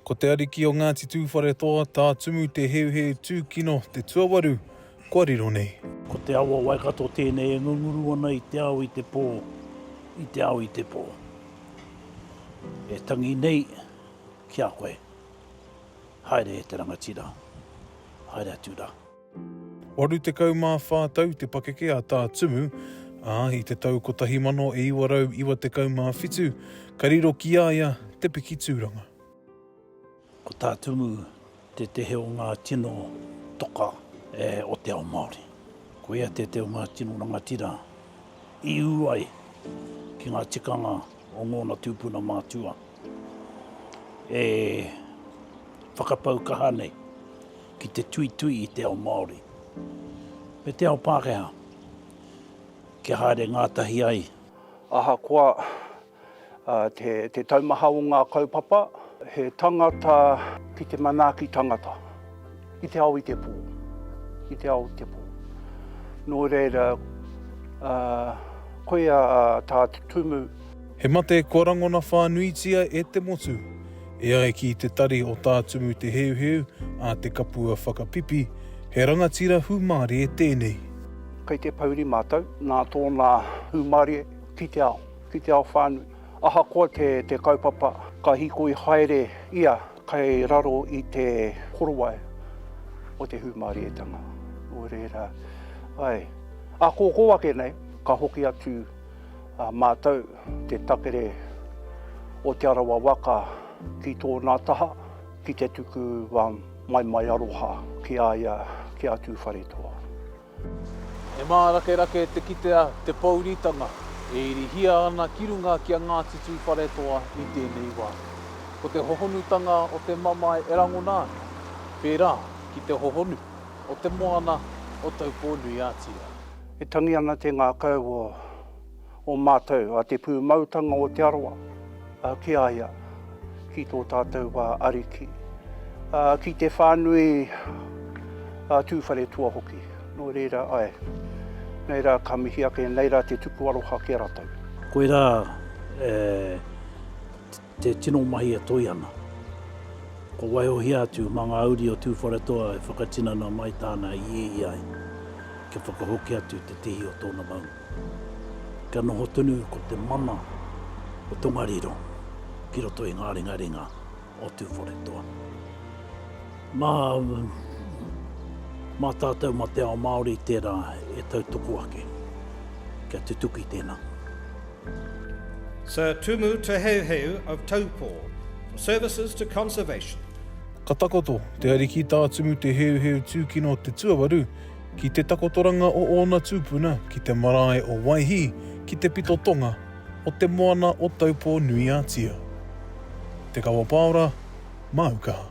Ko te ariki o Ngāti Tūwharetoa, Tā Tumu Te Heuheu Tūkino te tuawaru kua riro nei. Ko te awa Waikato tēnei e ngunguru ana i te ao i te pō, i te ao i te pō. E tangi nei ki a koe, haere e te rangatira, haere atu rā. 84 tau te pakeke a Tā Tumu, ā, i te tau 1997 ka riro ki a ia te piki tūranga. Ko Tā Tumu tētehi o ngā tino toka o te ao Māori. Ko ia tētehi o ngā tino rangatira i ū ai ki ngā tikanga o ngōna tūpuna mātua e whakapau kaha nei. Ki te tuitui i te ao Māori me te ao Pākehā kia haere ngātahi ai. Ahakoa te taumaha o ngā kaupapa, he tangata ki te manaaki tangata i te ao i te pō, i te ao i te pō. Nō reira, koia tā te Tumu. He mate kua rangona whānuitia e te motu. E ai ki te tari o Tā Tumu Te Heuheu a Te Kapua Whakapipi, he rangatira hūmārie tēnei. Kei te pouri mātou nā tōna hūmārie ki te ao, ki te ao whānui. Ahakoa te kaupapa, ka hīkoi haere ia kei raro i te korowai o te hūmārietanga. Nō reira, āe, ākōkō ake nei, ka hoki atu mātou. Te takere o Te Arawa waka ki tōna taha, ki te tuku wā maimai aroha ki a ia, ki a Tūwharetoa. He mārakerake te kitea te pouritanga e irihia ana ki runga ki a Ngāti Tūwharetoa i tēnei wā. Ko te hohonutanga o te mamae e rangona ana, pērā ki te hohonu o te moana o Taupō-nui-a-Tia. E tangi ana te ngākau o. o mātou, a te pūmautanga o Te Arawa, ki a ia, ki tō tātou wā Ariki, ki te whānui a Tūwharetoa hoki. Nō reira, ae, nei rā ka mihi ake, nei rā te tuku aroha ki a ratou. Koirā e. Te tino mahi e toe ana. Ko Waihohia atu ma nga uri o Tuwharetoa e whakatinana mai tana ieie ai kia whakahoki atu te tihi o tona maunga. Kia noho tonu ko te mana o Tongariro ki roto i nga ringaringa o Tuwharetoa. Ma ma tatou ma te ao Maori tera e tautoko ake kia tutuki tena. Sir Tumu Te Heuheu of Taupō for services to conservation. Ka takoto te Ariki tā Tumu Te Heuheu Tūkino Te Tuawaru ki te takotoranga o ōna tūpuna ki te marae o Waihī ki te pito tonga o te moana o Taupō-nui-a-Tia. Te Kawapāora, Māu Kaha.